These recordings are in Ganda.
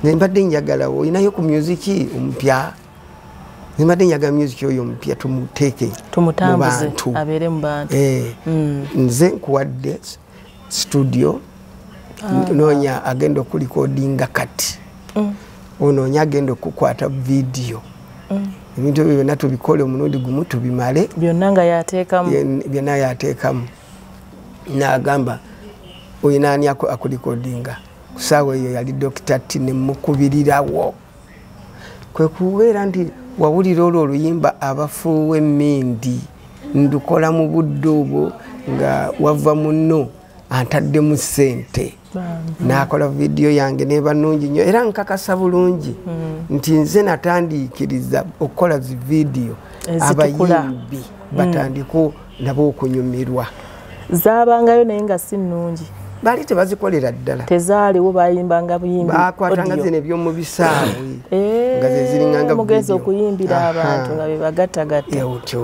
nembadde njagala olinayo ku musiki omupya nembadde njagala musiki oyo omupya tumuteeke mubantu eh, mm. nze nkuwadde studio ah. noonya agenda okulikodinga kati mm. onoonya agenda okukwata vidiyo mm. ebintu ebyo byonna tubikole omulundi gumu tubimale byonna nga yateekamu byonna yateekamu nagamba oyinaani akulikodinga kusaawa eyo yali dokita ti nemukubirirawo kwekubeera nti wawulira olwo oluyimba abafuuwa emindi ndukola mu budde obwo nga wava muno antaddemu sente nakola vidiyo yange neba nungi nyo era nkakasa bulungi mm. nti nze natandiikiriza okukola zividiyo abayimbi mm. batandiku nabo okunyumirwa zabangayo naye nga si nungi bali tebazikolera ddala tezaaliwo bayimbanga buyimbibakwatanga zino ebyomu bisaawe eh, nga zeziringangamugezi okuyimbira abantu nga bebagattagatta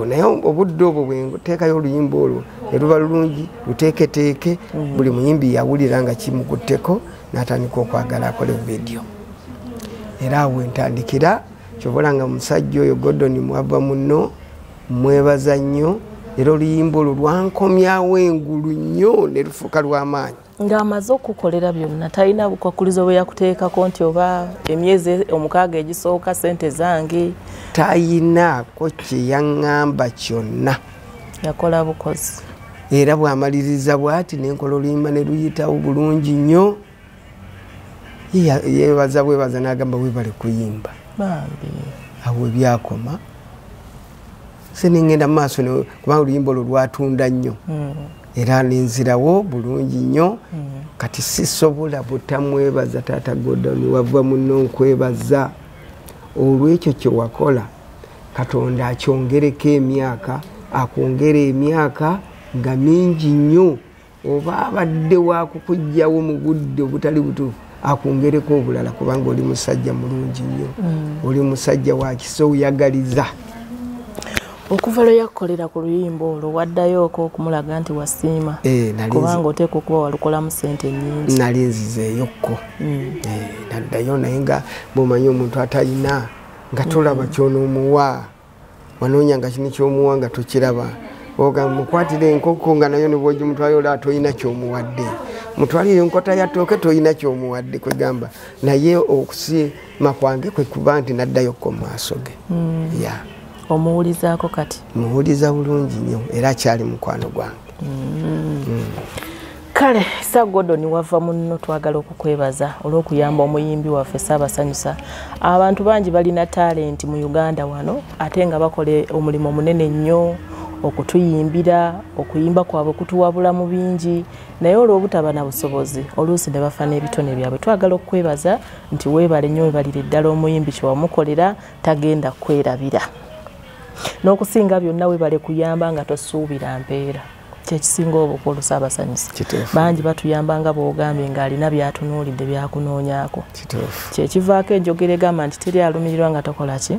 naye obudde obwo bwenteekayo oluyimba olwo eruba lulungi luteeketeeke mhm. buli muyimbi yawulira nga kimukutteko n'atandika okwagala akole vidiyo era awo entandikira kyobola nga musajja oyo godoni mwava muno mwebaza nnyo era oluyimba olwo lwankomyawo engulu nnyo ne lufuuka lw'amaanyi ng'amaze okukukolera byonna talina bukwakulizo bwe yakuteekako nti oba emyezi omukaaga egisooka sente zange tayinaako kye yaŋŋamba kyonna yakola bukozi era bwamaliriza bwati nenkola oluyimba ne luyitawo bulungi nnyo yebaza bwebaza nagamba webale kuyimba awo ebyakoma senengenda mumaaso kubanga oluyimba olwo lwatunda nnyo hmm. era nenzirawo bulungi nnyo hmm. kati sisobola butamwebaza taata godon wava muno nkwebaza olwekyo kyewakola katonda akyongereko emyaka akwongera emyaka nga mingi nnyo oba abadde wakukujjawo mu budde obutali butuufu akwongereko obulala kubanga oli musajja mulungi nnyo mm. oli musajja wakisa oyagaliza okuva lwe yakukolera ku luyimba olwo waddayoko okumulaga nti wasiima eh, kubanga oteeka okuba walukolamu sente nyingi nali nzizeeyokko mm. eh, naddayo naye nga bwomanyi omuntu atalina nga tolaba kyonoomuwa wanoonya nga kini kyomuwa nga tokiraba ogamba mukwatira enkoko nga nayo nibwogimutwala olaba tolina kyomuwadde mutwalire enkota ya tooke tolina kyomuwadde kwegamba naye okusiima kwange kwekuba nti naddayo ko maaso ge hmm. ya omuwulizaako kati muwuliza bulungi nnyo era akyali mukwano gwange hmm. Hmm. kale sa gordon wava munno twagala okukwebaza olw'okuyamba omuyimbi waffe saabasanyusa abantu bangi balina talenti mu uganda wano ate nga bakola omulimu munene nnyo okutuyimbira okuyimba kwabwe kutuwabula mu bingi naye olw'obutaba na busobozi oluusi ne bafa n'ebitone byabwe twagala okukwebaza nti weebale nnyo webalire ddala omuyimbi kyewamukolera tagenda kukwerabira n'okusinga byonna webale kuyamba nga tosuubira mpeera kyekisinga obukulu saabasanyusa bangi batuyamba nga bwogambye ng'alina byatunuulidde byakunoonyako kyekivaako enjogera egamba nti teri alumirirwa nga takola ki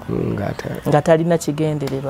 nga talina kigendererwa